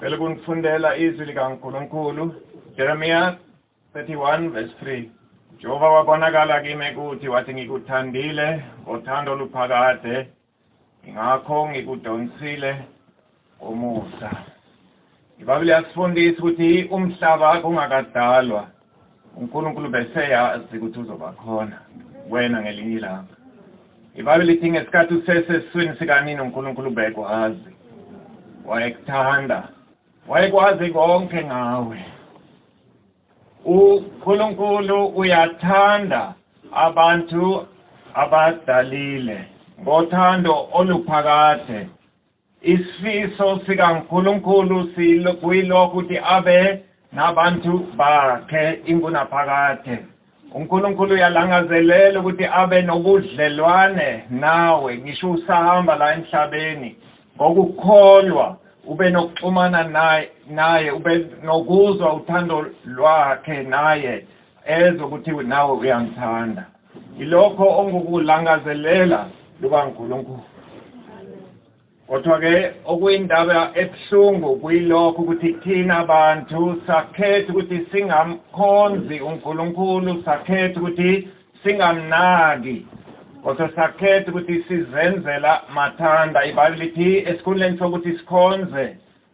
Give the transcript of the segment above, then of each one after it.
Cela kunifundela izwi likaNkulunkulu, Jeremiya 31 verse 3. Jehova wabonakala kimi kuthi wathi ngikuthandile ngothando oluphakade, ngakho ngikudonsile ngomusa. IBhayibheli yasifundisa ukuthi umhlaba kungakadalwa uNkulunkulu beseyazi ukuthi uzoba khona wena ngelinye ilanga ibhayibheli lithi ngesikhathi useseswini sikanini uNkulunkulu bekwazi wayekuthanda wayekwazi konke ngawe uNkulunkulu uyathanda abantu abadalile ngothando oluphakade Isifiso sikaNkulunkulu kuyilokuthi abe nabantu bakhe ingunaphakade. UNkulunkulu uyalangazelela ukuthi abe nobudlelwane nawe ngisho usahamba la emhlabeni. Ngokukholwa ube nokuxhumana naye, ube nokuzwa uthando lwakhe naye ezwe ukuthi nawe uyamthanda. Yilokho ongukulangazelela lukaNkulunkulu. Kodwa-ke okuyindaba ebuhlungu kuyilokho ukuthi thina abantu sakhetha ukuthi singamkhonzi uNkulunkulu sakhetha ukuthi singamnaki kodwa sakhetha ukuthi sizenzela mathanda ibhayibheli lithi esikhundleni sokuthi sikhonze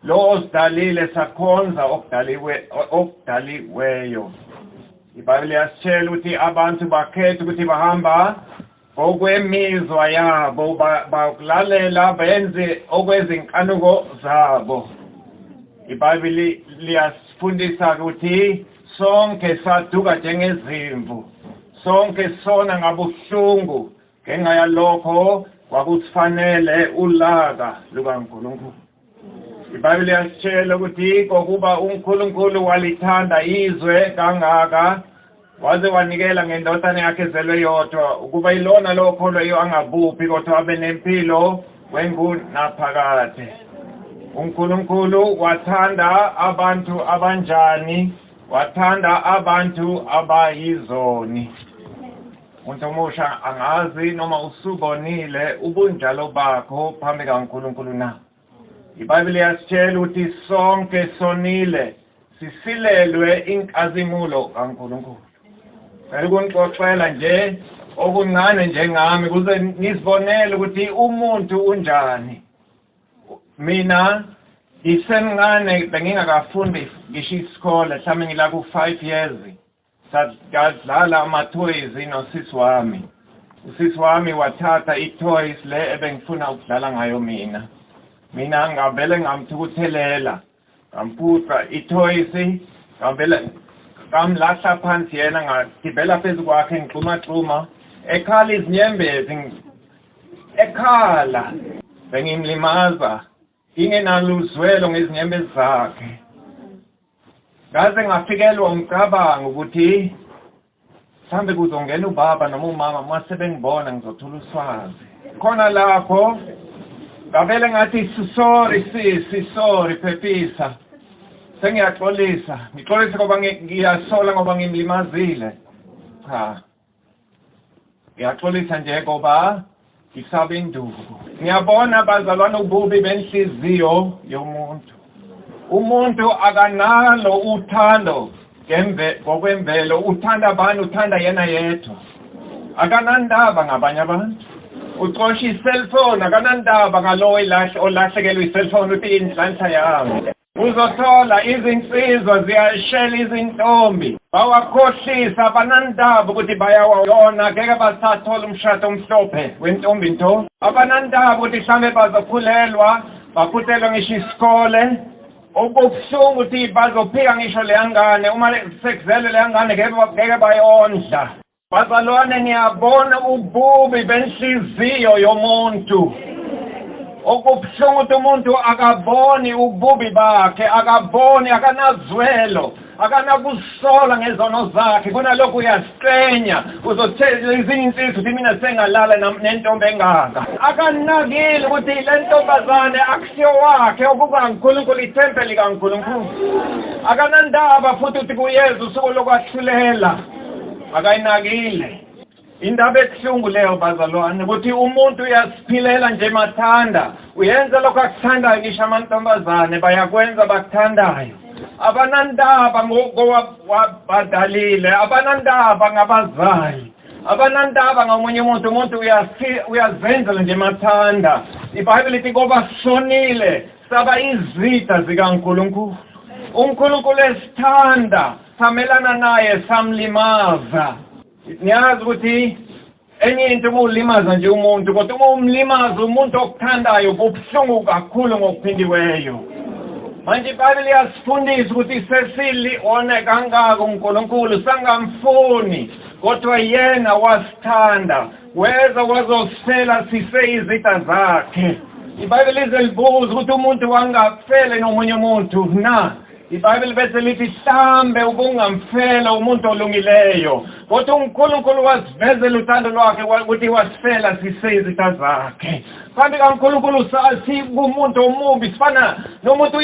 Lo osidalile sakhonza okudaliwe okudaliweyo. IBhayibheli yasitshela ukuthi abantu bakhetha ukuthi bahamba okwemizwa yabo bakulalela benze okwezinkanuko zabo ibhayibheli liyasifundisa ukuthi sonke saduka njengezimvu sonke sona ngabuhlungu ngenxa yalokho kwakusifanele ulaka lukaNkulunkulu IBhayibheli yasitshela ukuthi kokuba uNkulunkulu walithanda izwe kangaka waze wanikela ngendodana yakhe ezelwe yodwa ukuba ilona lowo kholweyo angabuphi kodwa abe nempilo kwengunaphakade uNkulunkulu wathanda abantu abanjani wathanda abantu abayizoni Muntu omusha angazi noma usubonile ubunjalo bakho phambi kaNkulunkulu na? IBhayibheli yasitshela ukuthi sonke sonile sisilelwe inkazimulo kaNkulunkulu. Cela ukunixoxela nje okuncane njengami kuze nizibonele ukuthi umuntu unjani. Mina ngisemncane bengingakafundi ngisho isikole mhlawumbe ngila ku-five years Sadlala amathoyizi nosisi wami. Usisi wami wathatha ithoyizi le ebengifuna ukudlala ngayo mina. Mina ngavele ngamthukuthelela, ngamphuca ithoyizi, ngavele ngamlahla phansi yena ngagibela phezu kwakhe ngigxumagxuma ekhala izinyembezi ekhala bengimlimaza Ngingenalo uzwelo ngezinyembezi zakhe. Ngaze ngafikelwa umcabango ukuthi mhlambe kuzongena ubaba noma umama uma sebengibona ngizothola uswazi. Khona lapho ngavele ngathi sorry sisi sorry phephisa. Sengiyaxolisa, ngixolise ngoba ngiyasola ngoba ngimlimazile. Cha. Ngiyaxolisa nje ngoba ngisaba induku. Ngiyabona bazalwane ububi benhliziyo yomuntu. Umuntu akanalo uthando ngembe ngokwemvelo uthanda abantu uthanda yena yedwa. Akanandaba ngabanye abantu. Ucosha i-cellphone akanandaba ngalowo ilahle olahlekelwe i-cellphone uthi inhlanhla yami. Uzothola izinsizwa ziyashela izintombi bawakhohlisa abanandaba ukuthi bayawayona ngeke basathola umshado omhlophe wentombi nto abanandaba ukuthi hlambe bazokhulelwa baphutelwe ngisho isikole okubuhlungu ukuthi bazophika ngisho leyangane uma sekuzelwe leyangane ngeke bayondla Bazalwane niyabona ububi benhliziyo yomuntu okubuhlungu ukuthi umuntu akaboni ububi bakhe akaboni akanazwelo akanakusola ngezono zakhe kunalokho uyaziqenya uzothela ezinye insizwa ukuthi mina sengalala nentombi engaka akanakile ukuthi le ntombazane akusiyo wakhe okukankulunkulu ithempeli kankulunkulu akanandaba futhi ukuthi kuyeza usuku lokwahlulela akayinakile indaba ebuhlungu leyo bazalwane ukuthi umuntu uyasiphilela nje mathanda uyenza lokho akuthandayo ngisho amantombazane bayakwenza bakuthandayo abanandaba ngokowabadalile abanandaba ngabazali abanandaba ngamunye umuntu umuntu uyazenzela nje mathanda ibhayibheli ithi koba sonile saba izitha zikankulunkulu unkulunkulu esithanda Samelana naye samlimaza. Niyazi ukuthi enye into uma ulimaza nje umuntu kodwa uma umlimaza umuntu okuthandayo kubuhlungu kakhulu ngokuphindiweyo. Manje iBhayibheli liyasifundisa ukuthi sesili one kangaka uNkulunkulu sangamfuni kodwa yena wasithanda weza wazosifela siseyizitha zakhe. IBhayibheli lize libuze ukuthi umuntu wangakufele nomunye umuntu na? IBhayibheli bese lithi hlambe ubungamfela umuntu olungileyo kodwa uNkulunkulu wasivezela uthando lwakhe ukuthi wasifela siseyizitha zakhe kanti kaNkulunkulu sathi kumuntu omubi sifana nomuntu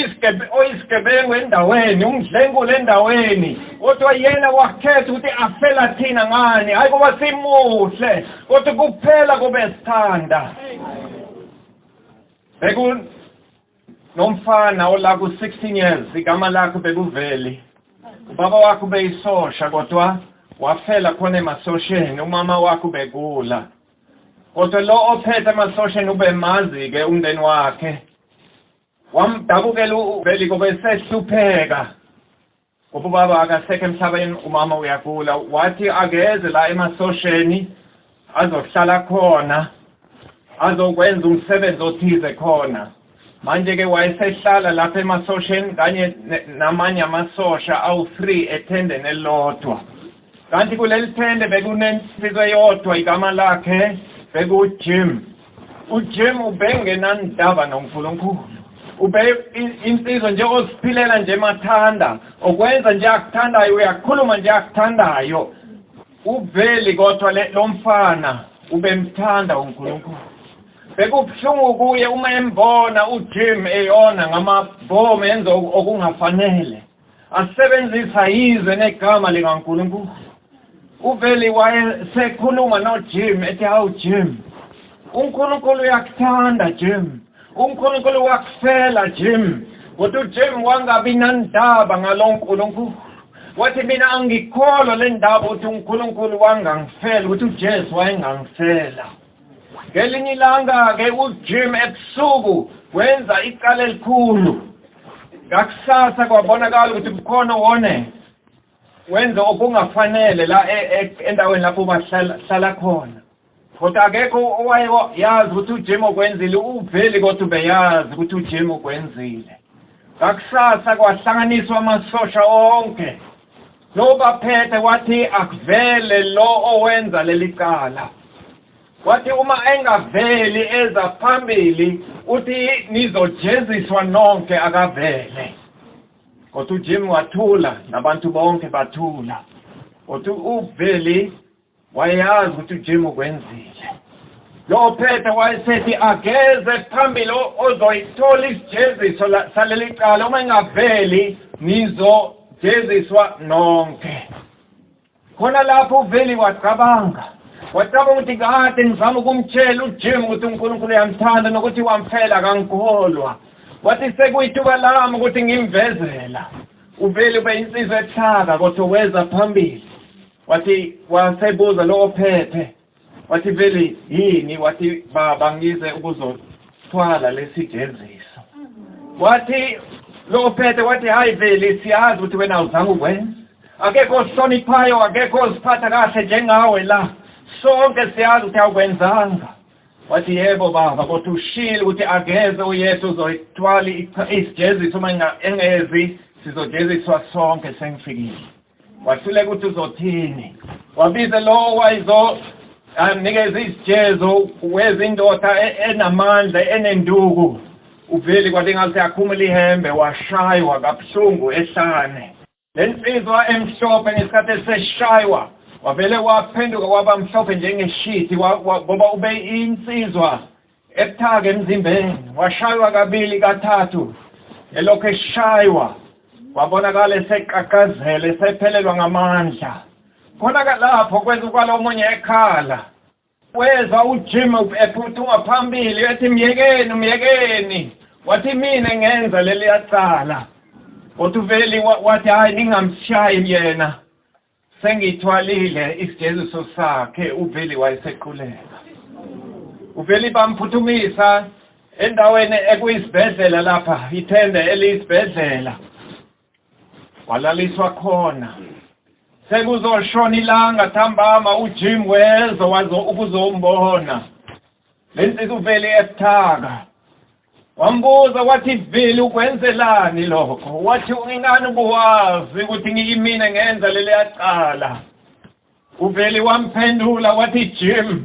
oyisigebengu endaweni umdlengule endaweni kodwa yena wakhetha ukuthi afela thina ngani hhayi kuba simuhle kodwa kuphela kube sithanda Nomfana olaku 16 years igama lakho bekuveli. Ubaba wakho beyisosha kodwa wafela khona emasosheni umama wakho begula. Kodwa lo ophethe emasosheni ubemazi ke umndeni wakhe. Wamdabukela uveli kobe sehlupheka. Ubaba akasekho emhlabeni umama uyagula wathi akeze la emasosheni azohlala khona azokwenza umsebenzi othize khona manje-ke wayesehlala lapha emasosheni kanye namanye amasosha awu-three ethendeni elilodwa Kanti kuleli tende bekunensizwa eyodwa igama lakhe bekuJim. UJim ubengenandaba noNkulunkulu. Ube insizwa nje oziphilela nje mathanda, okwenza nje akuthandayo, uyakhuluma nje akuthandayo. Uveli kodwa lo mfana ubemthanda uNkulunkulu. Bekubuhlungu kuye uma embona uJim eyona ngamabhomu enza okungafanele. asebenzisa izwe negama likaNkulunkulu uveli wayesekhuluma noJim ethi hawu Jim uNkulunkulu uyakuthanda Jim uNkulunkulu wakufela Jim kodwa uJim wangabi nandaba ngaloNkulunkulu wathi mina angikholwa le ndaba ukuthi uNkulunkulu wangangifela ukuthi uJesu wayengangifela Ngelinye ilanga-ke uJim ebusuku wenza icala elikhulu ngakusasa kwabonakala ukuthi kukhona wone wenza okungafanele la e, e, endaweni lapho bahlala khona kodwa akekho owaye yazi ukuthi uJim okwenzile uveli kodwa ubeyazi ukuthi uJim okwenzile ngakusasa kwahlanganiswa amasosha onke Sobaphethe wathi akuvele lo owenza leli cala. Wathi uma engaveli eza phambili uthi nizojeziswa nonke akavele. Kodwa uJim wathula nabantu bonke bathula. Kodwa uveli wayeyazi ukuthi ujim ukwenzile lo phetha wayesethi ageze phambili ozoyithola isijeziso saleli cala uma ingaveli nizojeziswa nonke khona lapho uveli wacabanga wacabanga ukuthi kade ngizama ukumtshela ujim ukuthi unkulunkulu uyamthanda nokuthi wamfela akangikholwa wathi sekuyithuba lami ukuthi ngimvezela uveli ube insizwa ehlaka kodwa weza phambili Wathi wasebuza lo ophethe wathi vele yini wathi baba ngize ukuzothwala lesijeziso wathi lo ophethe wathi hayi vele siyazi ukuthi wena awuzange ukwenza akekho ohloniphayo akekho oziphatha kahle njengawe la sonke siyazi ukuthi awukwenzanga wathi yebo baba kodwa ushile ukuthi akeze uyethu uzoyithwala isijeziso uma engezi sizojeziswa sonke sengifikile wahluleka ukuthi uzothini wabize lowo wayizo anikeza izijezo wezindoda e-, enamandla enenduku uveli kwathi ngathi akhumula ihembe washaywa kabuhlungu ehlane le nsizwa emhlophe ngesikhathi eseshaywa wavele waphenduka waba mhlophe njengeshithi ngoba ube insizwa Ebuthaka emzimbeni washaywa kabili kathathu elokhu eshaywa wabonakala eseqaqazela esephelelwa ngamandla khona ke lapho kwenza ukwala omunye ekhala wezwa ujim ephuthuma phambili ethi myekeni myekeni wathi mina ngenza leli yacala kodwa uveli wathi hhayi ningamshayi yena Sengiyithwalile isijeziso sakhe uVeli wayesequleka. UVeli bamphuthumisa endaweni ekuyisibhedlela lapha ithende eliyisibhedlela walaliswa khona sekuzoshona ilanga thambama uJim wezo wazo ukuzombona Le nsizwa uvele yasithaka wambuza wathi vele ukwenzelani lokho wathi ingani ubuwazi ukuthi ngiyimina ngenza leliya cala uveli wamphendula wathi jim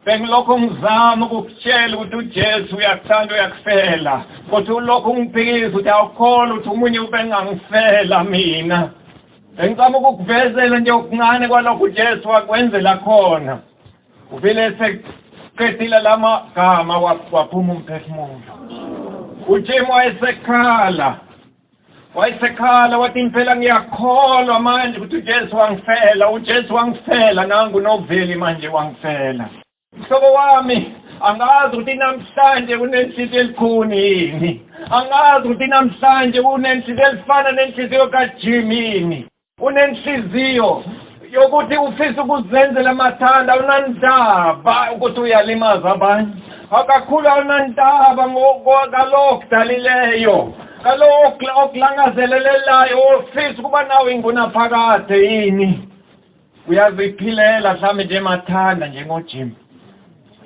bengilokhu ngizama ukukutshela ukuthi ujesu uyakuthanda uyakufela kodwa ulokhu ungiphikisa ukuthi awukholwa ukuthi umunye ubengangifela mina bengicama ukukuvezela nje okuncane kwalokho ujesu wakwenzela khona Uvele eseqedile la magama waphuma umphefumulo. UJim wayesekhala. Wayesekhala wathi impela ngiyakholwa manje ukuthi uJesu wangifela, uJesu wangifela nangu noveli manje wangifela. Mhlobo wami angazi ukuthi namhlanje unenhliziyo elikhuni yini angazi ukuthi namhlanje unenhliziyo elifana nenhliziyo kajimini unenhliziyo yokuthi ufisa ukuzenzela amathanda awunandaba ukuthi uyalimaza abanye akakhulu awunandaba ngalokho kudalileyo kalowo okulangazelelelayo ofisa ukuba nawo ingunaphakade yini uyaziphilela mhlawumbe nje mathanda njengojim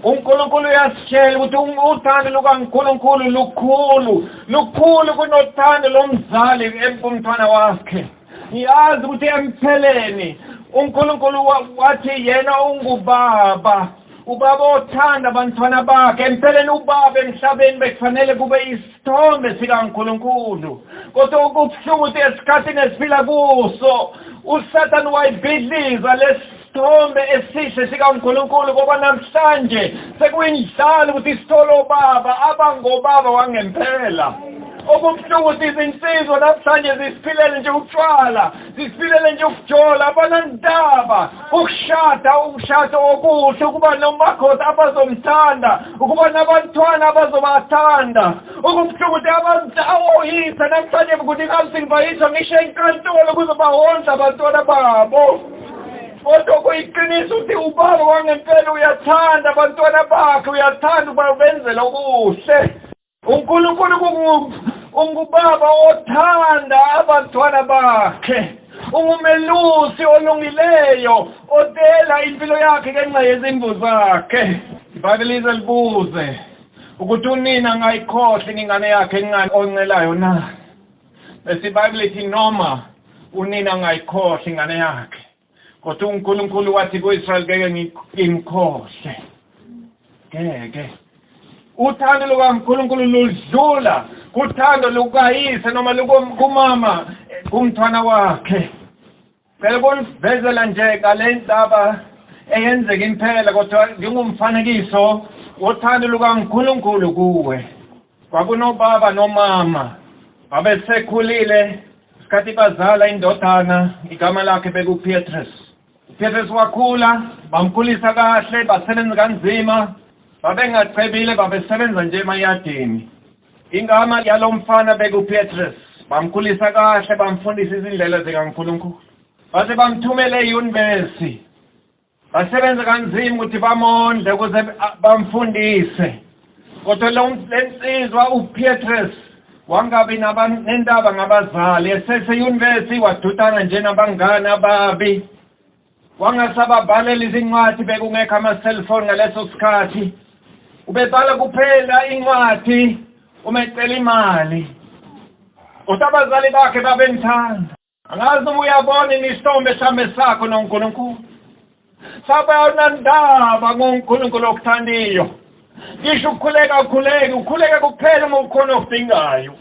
uNkulunkulu uyasitshela ukuthi um, uthando lukaNkulunkulu lukhulu lukhulu kunothando lomzali kumntwana wakhe ngiyazi ukuthi empheleni uNkulunkulu wathi yena ungubaba ubaba othanda abantwana bakhe empeleni ubaba emhlabeni bekufanele kube isithombe sikaNkulunkulu kodwa okubuhlungu ukuthi esikhathini esiphila kuso uSathane wayibhidliza lesi isithombe esihle sikaNkulunkulu ngoba namhlanje sekuyindlala ukuthi sithole obaba abangobaba wangempela okubuhlungu ukuthi izinsizwa namhlanje zisiphilele nje utshwala zisiphilele nje ukujola abanandaba ukushada ukushada okuhle ukuba nomakhosi abazomthanda ukuba nabantwana abazobathanda okubuhlungu ukuthi abantu awoyisa namhlanje ukuthi ingabe singivayiswa ngisho enkantolo ukuze bahondla abantwana babo kodwa kuyiqiniso ukuthi ubaba wangempela uyathanda abantwana bakhe uyathanda ukuba ubenzela okuhle unkulunkulu ungubaba othanda abantwana bakhe ungumelusi olungileyo odela impilo yakhe ngenxa yezimvu zakhe ibhake lize libuze ukuthi unina ngayikhohle ingane yakhe encane oncelayo na Bese iBhayibheli ithi noma unina angayikhohle ingane yakhe kodwa uNkulunkulu wathi kuIsrael ngeke ngimkhohle ngeke uthando lukaNkulunkulu ludlula kuthando lukayise noma lukumama kumntwana wakhe Ngicela ukunivezela nje ngale ndaba eyenzeka impela kodwa ngingumfanekiso wothando lukaNkulunkulu kuwe. Kwakunobaba nomama babesekhulile isikhathi bazala indodana igama lakhe bekuPetrus. UPetrus wakhula bamkhulisa kahle basebenza kanzima babengacebile babesebenza nje emayadini. Ingama yalo mfana bekuPetrus. Bamkhulisa kahle bamfundisa izindlela zikaNkulunkulu. Base bamthumela eyunivesi. Basebenza kanzima ukuthi bamondle ukuze bamfundise. Kodwa lo lensizwa uPetrus wangabi nendaba ngabazali eseseyunivesi wadudana nje nabangani ababi. Wangasababhalela izincwadi bekungekho ama-cellphone ngaleso sikhathi. Ubebhala kuphela incwadi uma ecela imali. Kodwa abazali bakhe babemthanda. Angazi uma uyabona inisithombe esihambe sakho noNkulunkulu. Sabanandaba ngoNkulunkulu okuthandiyo. ngisho ukukhuleka akukhuleki ukhuleka kuphela uma ukhona ofingayo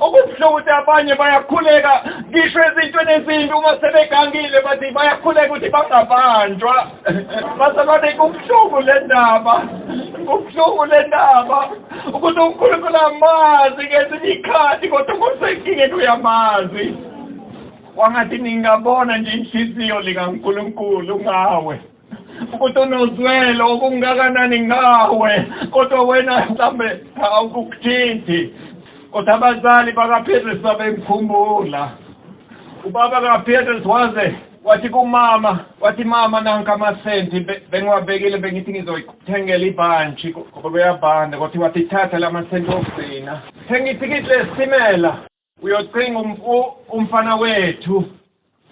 okubuhlungu ukuthi abanye bayakhuleka ngisho ezintweni ezimbi uma sebegangile bathi bayakhuleka ukuthi bangabanjwa bazalwane kubuhlungu le ndaba kubuhlungu le ndaba ukuthi unkulunkulu amazi ngezinye ikhathi kodwa kusenkingeni uyamazi wangathi ningabona nje inhliziyo likankulunkulu ngawe ukuthi unozwelo okungakanani ngawe kodwa wena mhlawumbe awukukuthinti kodwa abazali bakapetrus babemkhumbula ubaba kapetrus waze wathi kumama wathi mama nanka amasenti bengiwabekile bengithi ngizoyithengela ibhantshi ngoba kuyabhanda kodwa wathi thatha la masenti okugcina thenga ithikithi lesitimela Uyocinga umfu umfana wethu.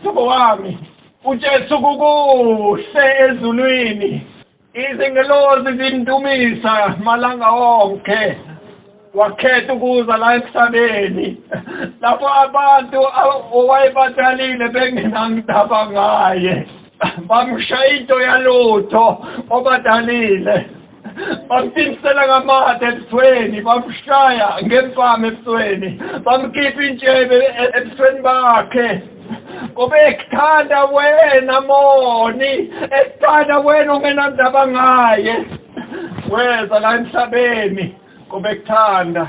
Sabo wami, uJesu kukuhle ezulwini. Izingelozi zindumisa malanga onke. Wakhetha ukuza la emhlabeni lapho abantu owayebatalile bengenangidaba ngaye. Bamshaya into yalutho obadalile. bamtimisela ngamathe ebusweni bamshaya ngempama ebusweni bamkhipha intshebe e-, ebusweni bakhe ngoba ekuthanda wena moni ekuthanda wena ongenandaba ngaye weza la emhlabeni ngoba ekuthanda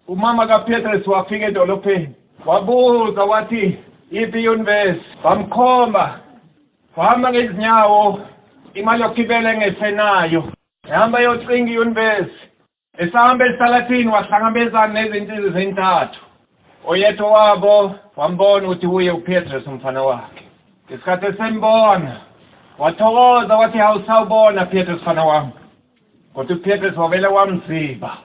umama kaPetrus wafika edolopheni wabuza wathi iphi iuniverse bamkhomba Uhamba ngezinyawo imali yokugibela engesenayo. Ehamba yocinga iyunivesi. Esahamba esitalatini wahlangabezana nezinsizi zintathu. Oyedwa wabo wambona ukuthi uye uPetrus umfana wakhe. Ngesikhathi esembona wathokoza wathi hawusawubona Petrus mfana wami. Kodwa uPetrus wavele wamziba.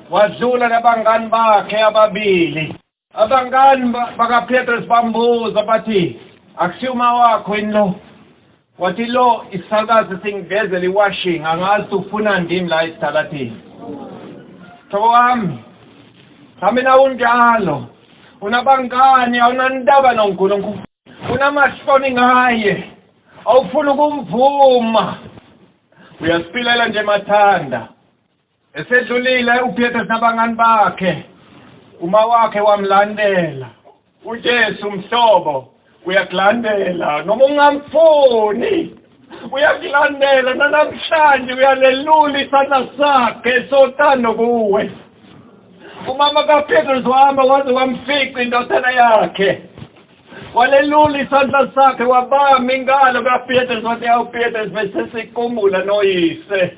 Wadlula nabangani bakhe ababili. Abangani bakaPetrus bambuza bathi, Akusiyo uma wakho yini lo? Wathi lo isakazi singivezela iwashing angazi ufuna ndini la esitaladini. Thoko wami, hamba nawe unjalo. Unabangani awunandaba noNkulunkulu. Unamahloni ngaye. Awufuni ukumvuma. Uyasipilela nje mathanda. Esedlulile uPetros nabangani bakhe, umawakhe wamlandela. UJesu mhlobo uyakulandela noma ungamfuni. Uyakulandela nanamhlanje uyalelula isandla sakhe sotando kuwe. Umama kaPetros wahamba waze wamfica indodana yakhe. Walelula isandla sakhe wabamba ingalo kaPetros wathi, "Awu Petros, bese sikumbula noyise."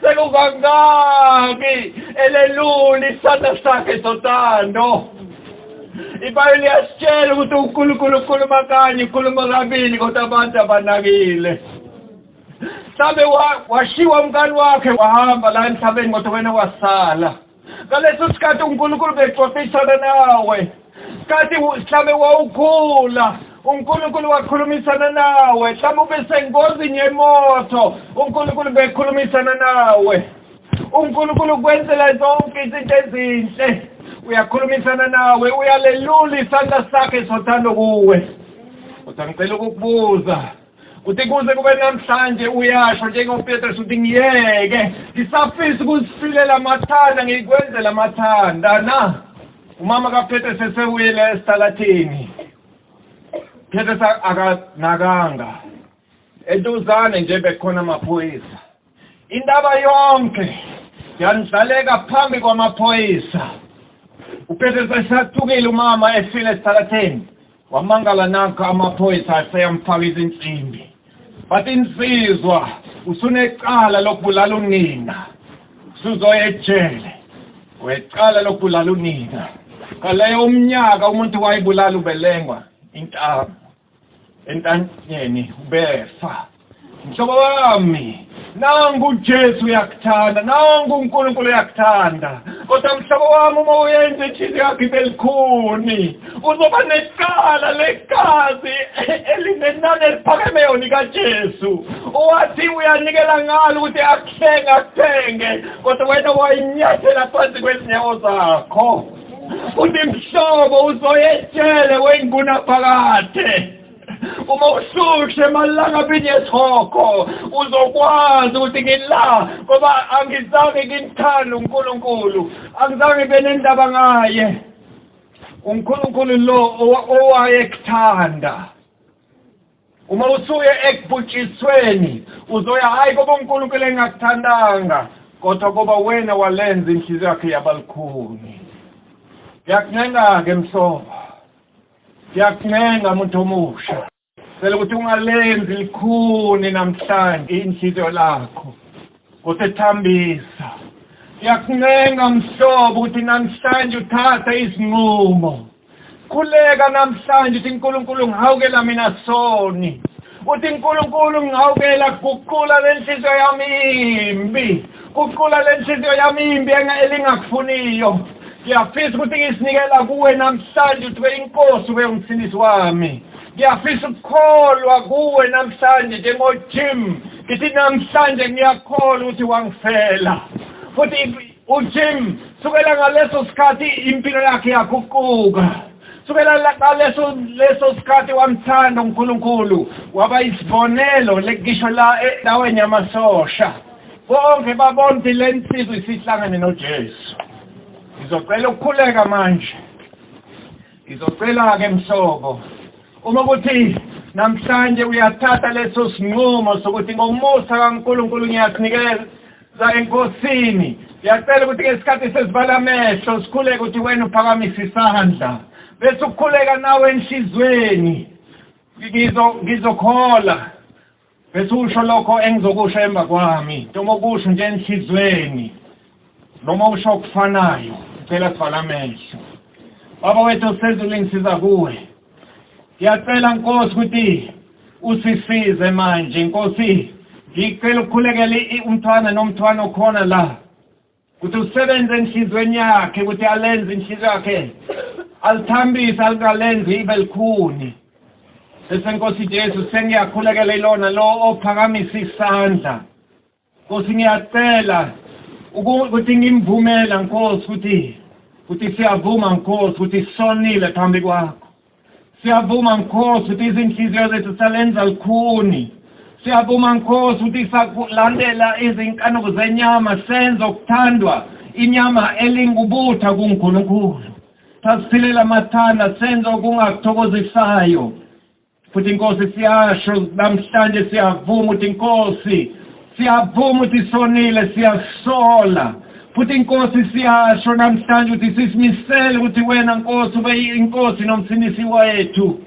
Sekukangaki elelula isandla sakhe sothando. Ibhayibheli liyasitshela ukuthi uNkulunkulu ukhuluma kanye, ukhuluma kabili kodwa abantu abanakile. Mhlawumbe washiwa umkani wakhe wahamba la emhlabeni kodwa wena wasala. ngaleso sikhathi unkulunkulu bexoxisana nawe kati mhlawumbe wawukhula unkulunkulu wakhulumisana nawe mhlawumbe ube sengozini yemoto unkulunkulu bekhulumisana nawe unkulunkulu kwenzela zonke izinto ezinhle uyakhulumisana nawe uyalelula isandla sakhe sothando kuwe kodwa ngicela ukukubuza Uthi kuze kube namhlanje uyasho njengoPetrus uthi ngiyeke ngisafisa ukuzifilela amathanda ngikwenzela amathanda na umama kaPetrus esewile esitalathini Petrus akanakanga eduzane nje bekhona amaphoyisa Indaba yonke yandlaleka phambi kwamaphoyisa. Uphethe sesathukile umama efile esithatheni. Wamangala nakho amaphoyisa aseyamfaka izinsimbi. Bathi insizwa usunecala lokubulala unina. Usuzoya ejele. Wecala lokubulala unina. Kaleyo umnyaka umuntu wayibulala ubelengwa intamo. entanyeni ubefa mhlobo wami nangu uJesu uyakuthanda nangu uNkulunkulu uyakuthanda kodwa mhlobo wami uma uyenze ithini yakho ibelikhuni uzoba necala legazi elinenani eliphakemeyo likaJesu owathi uyanikela ngalo ukuthi akuhlenge akuthenge kodwa wena wayinyathela phansi kwezinyawo zakho Futhi mhlobo uzoyetshele wengunaphakade. Uma ushushe malanga binyethoko uzokwazi ukuthi ngila ngoba angizange ngimthanda uNkulunkulu angizange benendaba ngaye uNkulunkulu lo owayekuthanda Uma usuye ekubhutshisweni uzoya hhayi koba uNkulunkulu engakuthandanga kodwa koba wena walenza inhliziyo yakhe yabalukhuni. Ngiyakuncenga-ke mhlobo, ngiyakuncenga muntu omusha cela ukuthi ungalenzi likhuni namhlanje inhliziyo lakho kodwa ethambisa. Ngiyakuncenga mhlobo ukuthi namhlanje uthathe isinqumo. Khuleka namhlanje uthi Nkulunkulu ngihawukela mina soni. Uthi Nkulunkulu ngihawukela guqula lenhliziyo yami imbi. Guqula lenhliziyo yami imbi elingakufuniyo. Ngiyafisa ukuthi ngisinikela kuwe namhlanje uthi inkosi ube umsindisi wami. Ngiyafisa ukukholwa kuwe namhlanje njengoJim. Ngithi namhlanje ngiyakholwa ukuthi wangifela. Futhi UJim, sukela ngaleso sikhathi impilo yakhe yaguquka. Sukela la- ngaleso leso sikhathi wamthanda uNkulunkulu, waba isibonelo lekisho la endaweni yamasosha. Bonke babona ukuthi le nsizwa isihlangane noJesu. Ngizocela ukukhuleka manje. Ngizocela-ke mhlobo, uma ukuthi namhlanje uyathatha leso sinqumo sokuthi ngomusa kaNkulunkulu ngiyasinikela Za enkosini siyacela ukuthi ke isikhathi sesibala amehlo sikhuleke ukuthi wena uphakamisa isandla bese ukukhuleka nawe enhlizweni ngizo ngizokhola bese usho lokho engizokusho emva kwami noma ukusho nje enhlizweni noma usho okufanayo sicela sivala amehlo baba wethu osezulwini siza kuwe Ngiyacela Nkosi ukuthi usisize manje Nkosi ngicela ukukhulekela umthwana nomthwana okhona la ukuthi usebenze enhlizweni yakhe ukuthi alenze inhliziyo yakhe alithambise alikalenzi ibe likhuni bese Nkosi Jesu sengiyakhulekela ilona lo ophakamisa isandla Nkosi ngiyacela ukuthi ngimvumela Nkosi ukuthi ukuthi siyavuma Nkosi ukuthi sonile phambi kwakho siyavuma Nkosi ukuthi izinhliziyo zethu salenza lukhuni siyavuma Nkosi ukuthi sakulandela izinkanuko zenyama senza okuthandwa inyama elingubutha kuNkulunkulu sasiphilela amathanda senza okungakuthokozisayo futhi inkosi siyasho namhlanje siyavuma ukuthi inkosi siyavuma ukuthi sonile siyasola futhi inkosi siyasho namhlanje ukuthi sisimisele ukuthi wena nkosi ube inkosi nomsinisi wethu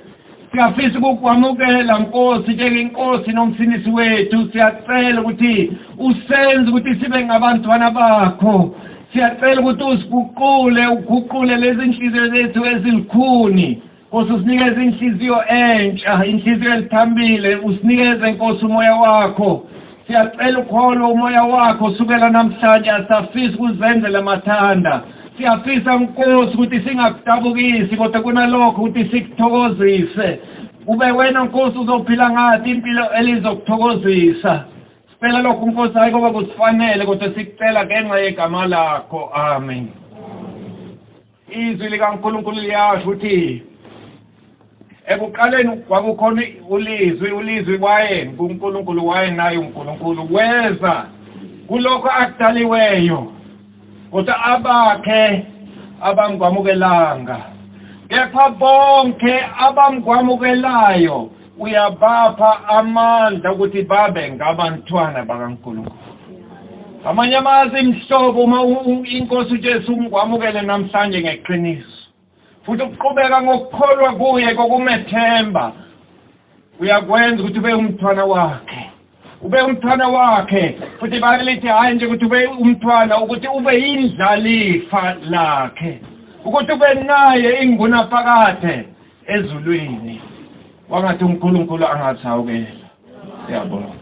siyafisa ukukwamukela nkosi njengenkosi nomsinisi wethu siyacela ukuthi usenze ukuthi sibe ngabantwana bakho siyacela ukuthi usiguqule uguqule lezi nhliziyo zethu ezilikhuni Nkosi usinikeza inhliziyo entsha inhliziyo elithambile usinikeze Nkosi umoya wakho siyacela ukholo umoya wakho sukela namhlanje asafisi kuzenzela mathanda siyafisa Nkosi ukuthi singakudabukisi kodwa kunalokho ukuthi sikuthokozise ube wena Nkosi uzophila ngathi impilo elizokuthokozisa sicela lokho Nkosi hayi ngoba kusifanele kodwa sikucela ngenxa yegama lakho amen Izwi likaNkulunkulu liyasho ukuthi ekuqaleni kwakukhona ulizwi ulizwi waye nguNkulunkulu waye naye uNkulunkulu weza kulokho akudaliweyo kodwa abakhe abamkwamukelanga kepha bonke abamkwamukelayo uyabapha amandla ukuthi babe ngabantwana bakaNkulunkulu amanye amazi imhlobo uma inkosi uJesu umkwamukele namhlanje ngeqiniso futhi ukuqhubeka ngokukholwa kuye kokumethemba uyakwenza ukuthi ube umntwana wakhe Ube umthwana wakhe futhi iBhayibheli lithi hhayi nje ukuthi ube umthwana ukuthi ube yindlalifa lakhe ukuthi ube naye ingunaphakade ezulwini wangathi uNkulunkulu angathi awukela siyabonga